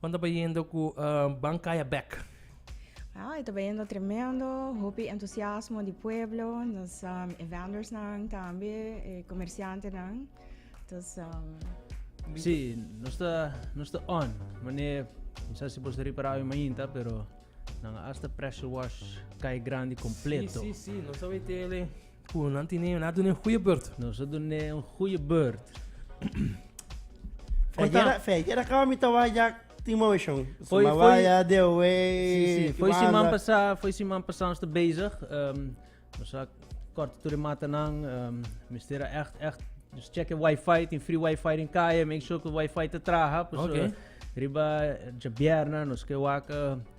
Juan ta bayendo cu Ban Caya Back. Ja, e ta bayendo tremendo, hopi entusiasmo di pueblo, nos um, e vendor'snan tambe, e comerciantenan. Dus um, Sí, no está, no está on. Mané, no sé si vos reparado en mainta, pero nan hasta pressure wash cae grande completo. Sí, sí, sí, no sabe tele. Cu nan tine yo na dune un goeie beurt. Nos a dune un goeie beurt. Feijera, feijera caba mi ta wak jak tin motion. Foi, Suma foi. waya, de away. Sí, sí. Foi Kiwanda. siman pasá, foi siman pasá ons ta bezig. ehm nos a kort tur e matanan. ehm mester a echt, echt nos checka e wifi. Tin free wifi den kaya. Make sure cu e wifi ta traha. P'esu Oké. riba djabièrna nos ke wak.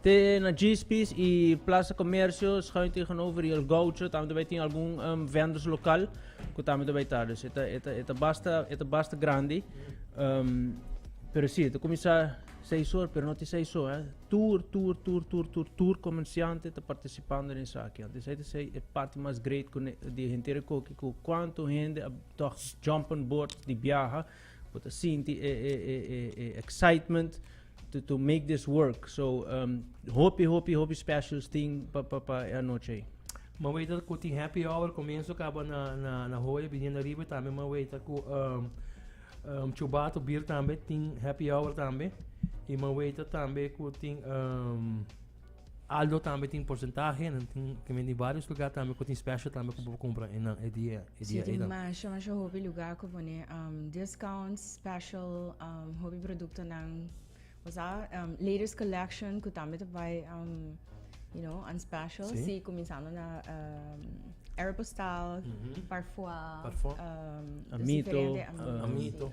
Te na Jispis y Plaza Comercio schuin tegenover y El Gaucho tambe bay tin algun vendors local cu tambe ta bay ta. Dus e ta e ta e ta basta e ta basta grandi. Um, pero si, ta cuminsa seis hor, pero no te seis hor, eh. Tur, tur, tur, tur, tur, tur comerciante ta participando den esaki. Anto esai ta ser e parti mas great cu di henter e coki cu cuanto hende a toch jump on board di biaha. Bo ta sinti e e e e e excitement to to make this work. So um hopi hopi hopi specials tin pa pa pa e anochi ei. M'a weta ku tin happy hour komienso kaba na na na hoyo biniendo riba i tambe m'a weta ku um um chubato bier tambe tin happy hour tambe i m'a weta tambe ku tin um Aldo tambe tin porcentahe en tin di varios lugar tambe ku tin special tambe ku bo compra en nan e dia e dia e masha masha hobi lugar ku pone um, discounts special um, hobi producto nan osa um, latest collection ku tambe te bai um, you know, on special. Sí, sí comenzando na um, Aeropostal, mm -hmm. Parfois, Parfois. Um, amito, amito.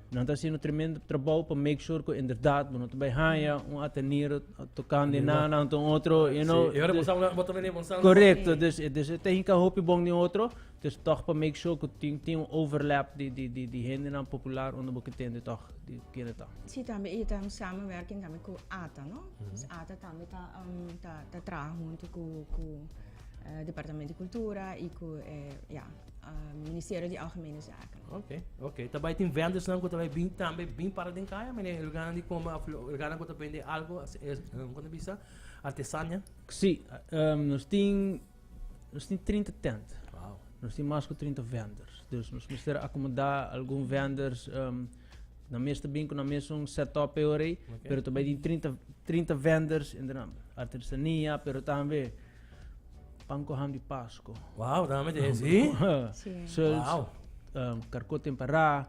Nan ta haciendo tremendo trabajo para make sure que inderdaad bo no te bay haya un atenido tocando en nada ante un otro, you know. Sí, ahora bosang na botón de bosang. Correcto, dus dus e te hinka hopi bon den otro, dus toch para make sure que tin tin un overlap di di di di hende nan popular unda bo ke tende toch di kende ta. Sí, tambe e ta un samenwerking tambe ku ata, no? Dus ata tambe ta um ta ta traha hunto ku ku eh Departamento di Kultura i ku eh ya eh Ministerio di Algemene Zaken. Ok, ok. Ta bai tin vendersnan ku ta bai bin tambe bin para den kaya, mene e lugarnan di kome of e lugarnan ku ta bende algu as e kon ta bisa artesania? Si, nos tin nos tin trinta tent. Wow. Nos tin mas ku trinta venders. Dus nos mester akomoda algun venders nan mes ta bin ku nan mes un setup peor ei, pero ta bai tin trinta trinta venders, artesania, pero tambe Pan ku ham di Pasko. Wow, dame de si. so, wow. Um, karko temperá,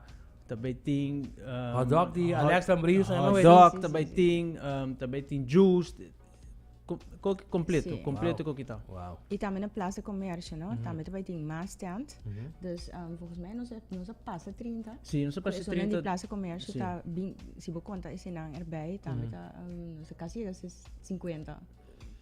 também tem um, hot dog de Alex Lambris, hot dog também tem, um, também tem juice, Kok completo, sí. completo wow. kokita. Wow. Y también en Plaza Comercio, ¿no? Mm -hmm. También te tiene más stand. Mm -hmm. Dus um, volgens mij nos, nos pasa 30. Sí, nos pasa 30. Pero Plaza Comercio sí. ta bin, si bo conta ese nan erbij, también mm -hmm. ta um, nos casi 50.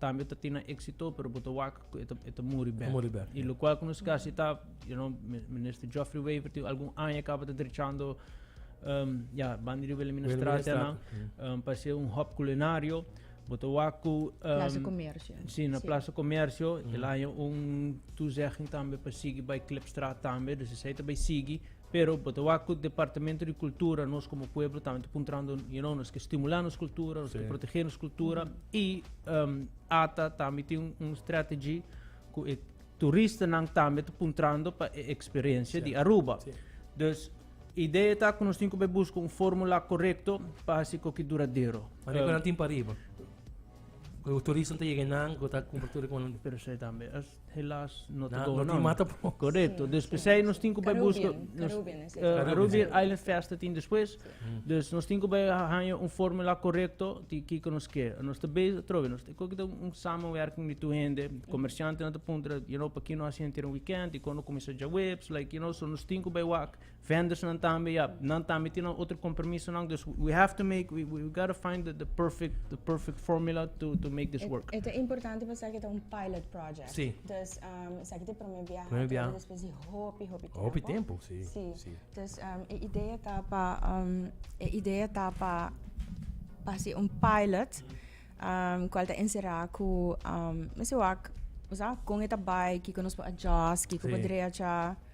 tambe ta tin na éxito pero bo ta wak ku e ta e ta muri bèk. Muri bèk, I ya. lokual ku nos kasi ta you know mi- minister Geoffrey Wever tin algun aña kaba ta drechando ehm, ya banda di Wilhelminastratia nan Wilhelminastratia, ehm, pa hasier un hòp kulinario bo ta wak ku ehm, Plaza Comercio. Sí, na Plaza Comercio. El haña un toezegging tambe pa sigui bai Klipstraat tambe. Dus esei ta bai sigui. Pero bo ta wak cu Departamento di Cultura nos como pueblo tambe ta puntrando, you know, nos ke stimula nos cultura, nos ke protege nos cultura y um ata tambe tin un strategy cu e turistanan tambe ta puntrando pa e experiencia di Aruba. Dus idea ta cu nos tin cu bay busca un formula corecto pa haci coki duradero. Mari cu nan tin pa riba? Cu e turistan ta yega nan cu ta cumpra tur cu nan? Pero esey tambe. Helaas no te goe no. Korekto. Dus p'esei nos tin ku bai buska Caribbean Island Festa tin despues. Dus nos tin ku bai haña un formula korekto di kiko nos ke. Nos ta bezig atrobe nos ta ko kita un samenwerking di tur hende. Komershantenan ta puntra you know p'aki no hasi henter un weekend i kon no kuminsá djaweps like you know so nos tin ku bai wak Vendersnan tambe, ya, nan tambe tin nan otro compromisonan. Dus we have to make, we, we gotta find the, the perfect, the perfect formula to, to make this work. Eto importante pa saki ta un pilot project. Si. Dus um, saki te prome biaha. Prome biaha. Despues di hopi, hopi tempo. Hopi tempo, si. Si. si. Dus um, e idea ta pa, um, e idea ta pa, pa si un pilot, um, cual ta encerra cu, um, mesiwak, o sea, con eta bai, kiko nos po adjust, kiko sí. po drecha.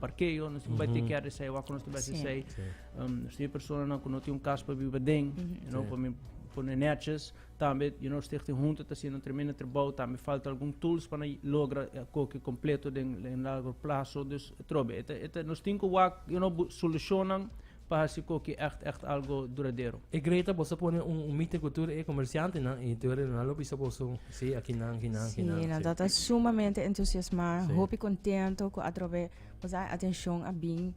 parkeo, nos tin bai take care di esei, wak nos tin bai hasi esei. Nos tin e personanan ku no tin un kas pa biba den, you know, pa mi pone netjes. Tambe, you know, Stichting Hunter ta hasiendo un tremendo trabou, tambe falta algun tools pa nan logra koke kompleto den largo plaso. Dus atrobe, e ta, e ta, nos tin ku wak, you know, bu- solushonnan Pa hasi cu ki echt echt algo duradero. E Greta bo sa pone un mite cu tur e comerciantenan y tur e nan lo bisa boso si aki nan aki nan aki nan. Si nan ta sumamente entusiasma hopi contento cu atrobe bo sa atencion a bin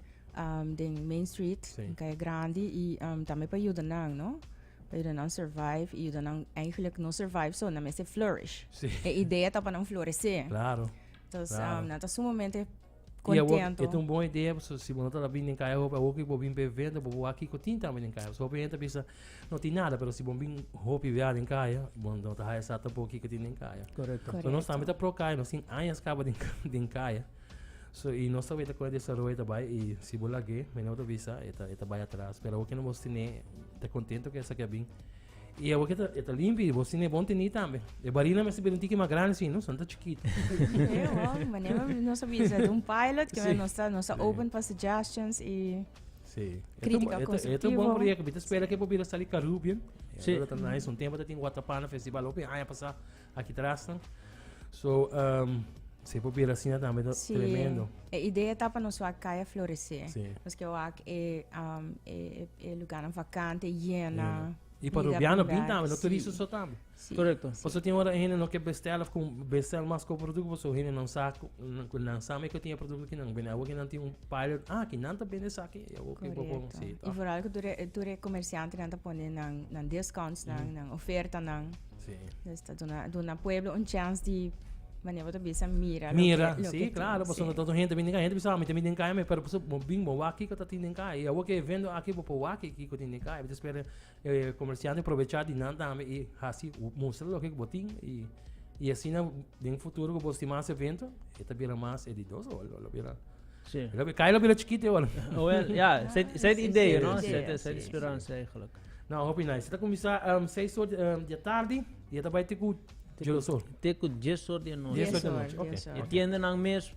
den Main Street den Calle Grandi y tambe pa yuda nan no pa yuda nan survive y yuda nan eigenlijk no survive so nan mester flourish e idea ta pa nan florece entonces nan ta sumamente. Y awor Contento. e ta un bon idea pasobra si bo no ta na bin den kaya hopi awor ku bo bin pe venta bo wak kiko tin tambe den kaya pasobra hopi hende ta bisa no tin nada pero si bo bin hopi wia den kaya bo no ta haya sa tampoco kiko tin den kaya. Correcto. Correcto. So nos tambe ta pro kaya nos tin añas kaba den den kaya so y nos ta weta kon e desaroyo ta bai y si bo lag'e mi no ta bisa e ta e ta bai atras pero awor ke nos bo stene ta contento ku esaki a bin Y awor que e ta limpi, vos tiene bon teni tambe. E barina mester bira un tiki mas grande, si no, son ta chikit. Hey, wow, manera no sabia sa un pilot, que sí. no está, no está sí. open para suggestions y Sí. Crítica eto, constructiva. Eto, eto bom porque que bita espera que pobira salir Caribbean. Sí. Pero tan nice, un tempo tin Waterpana Festival, opi, aña pasada Aki trasnan. So, um, se por bira asina tambe ta sí. tremendo. E idea ta pa nos wak kaya floresé. Sí. Nos ke wak e, um, e, e, e luganan vakante, jena. Mm. Y para Rubiano bien también, no turismo sí. también. Sí. Correcto. Sí. Paso tiene hora gente no que bestel of bestel más con producto, paso gente no sabe, no sabe que tiene producto que no viene, algo que no tiene un pilot, ah, que no te vende esa que, algo que poco, sí. Y por algo tú re, tú re comerciante no te pone nan, nan discounts, nan, mm. nan oferta, nan. Nos ta duna duna pueblo un chance di mane bo ta bisa mira mira lo si claro paso no tanto hende bini kaya hende bisa mita mi den kaya me pero paso bo bin bo wak kiko ta tin den kaya y awo ke evento aki bo por wak ke kiko tin den kaya bo ta spera e comerciante provecha di nan tambe y hasi mustra loke bo tin y y asina den futuro ku bo estima mas evento e ta bira mas e di dos ol lo bira si kaya lo bira chikit awor owel ya set set idee no set set speransa eigenlijk. No, hopi nice. Se ta kumisa um, 6 or um, dia tardi, y e ta bai teku Joloso. Teku 10 or dia noche. 10 or dia noche, ok. E tienda nan mes,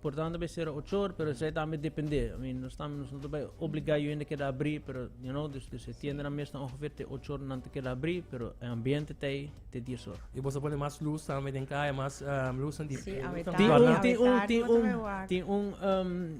portanto, be sera 8 or, pero zij tambe depende. I mean, nos tambe nos ta bai obliga yo ende keda abri, pero, you know, dus, dus e tienda nan mes ta ongeveer te 8 or nan te keda abri, pero e ambiente ta ei te 10 or. Y bosa pone mas luz tambe den kaya, mas um, luz en di. Sí, a Ti un, ti un, ti un, ti un, um,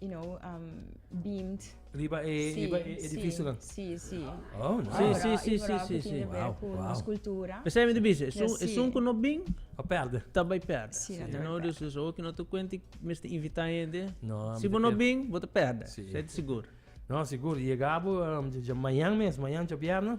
you know, beamed. Riba e, si, riba e edificio dan? Si, si. Oh, nice. Si, si, si, si, si. Wow, wow. Nos cultura. P'esei mi ta bisa, esun, esun ku no bin, a perde. Ta bai perde. Si, ta bai perde. You know, dus, dus oki no ta kuente mester invita hende. No, mi ta. Si bo no bin, bo ta perde. Si. Esei ta sigur. No, sigur. Yega bo, dja mañan mes, mañan dja bierna.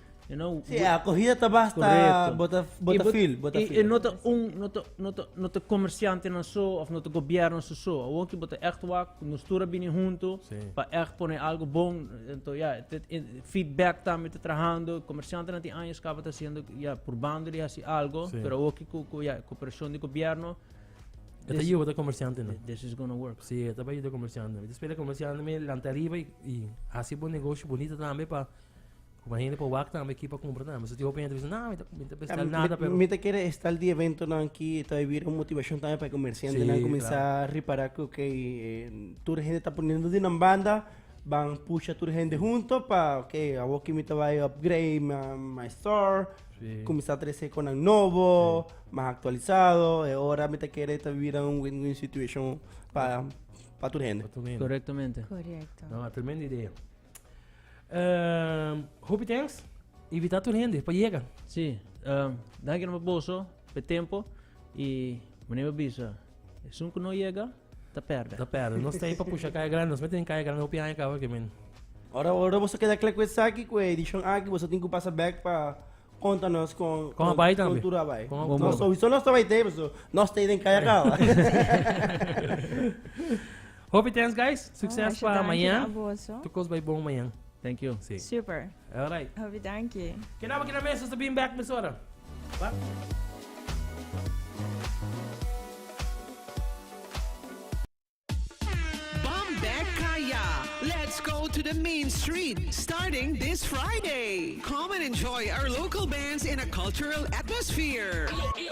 You know, Sí, we- a cogida ta basta Correcto. bota, Y bota bot- fil, bota y- fil. y no ta un, no ta, no ta, no ta comerciante nan so, of no ta gobierno su so. Awor ki bo ta echt wak, nos tur a bini hunto, Sí. pa echt pone algo bon. Ento, ja, het- het- en- feedback tambe ta trahando. Comerciante nan tin años caba ta haciendo, ja, probando di haci algo, Sí. pero awor ki cu, cu, ja, cooperacion di gobierno, Eta This- yuda comerciante no. this is gonna work. Sí, eta pa yuda comerciante. Eta spela comerciante me lanta arriba y, y hace bon negocio bonito también pa Cu mi hende por wak tambe aquí pa cumpra tambe. So tin hopi hende bisa, nah, mi ta, mi ta bestel Am- nada, mi- pero... Mi ta kere estal di eventonan aki, ta bira un motivacion tambe pa e comerciantenan Sí, cuminsa repara cu ok, eh, tur hende ta poniendo di nan banda, ban pusha tur hende hunto pa, ok, awor ki mi ta bay upgrade ma- my store, Sí. cuminsa trece conan nobo, mas actualisado, e ora mi ta kere ta bira un win-win situation pa, pa tur hende. Pa tur hende. Correctamente. Correcto. No, a tremenda idea. Ehm, hopi thanks. Invita tur hende pa yega. Si, ehm, danki nomás boso pe tempo i meneer mi bisa, esun ku no yega ta perde. Ta perde. Nos ta ei pa pusha Kaya Grande, nos mester den Kaya Grande hopi aña kaba ke men. Ora ora boso keda kla ku esaki, ku e edishon aki, boso tin ku pasa bèk pa konta nos kon Kon a bai tambe. kon tur a bai. Kon a bai. Nos sowieso nos ta bai te, paso nos ta ei den Kaya kaba. Hopi thanks guys, sukses pa mañan. Tur kos bai bon mañan. Thank you. Sí. Super. Alright. Hopi danki. Kedaba aquí na mesa, hasta bin back mesora. Ba. to the main street starting this Friday. Come and enjoy our local bands in a cultural atmosphere.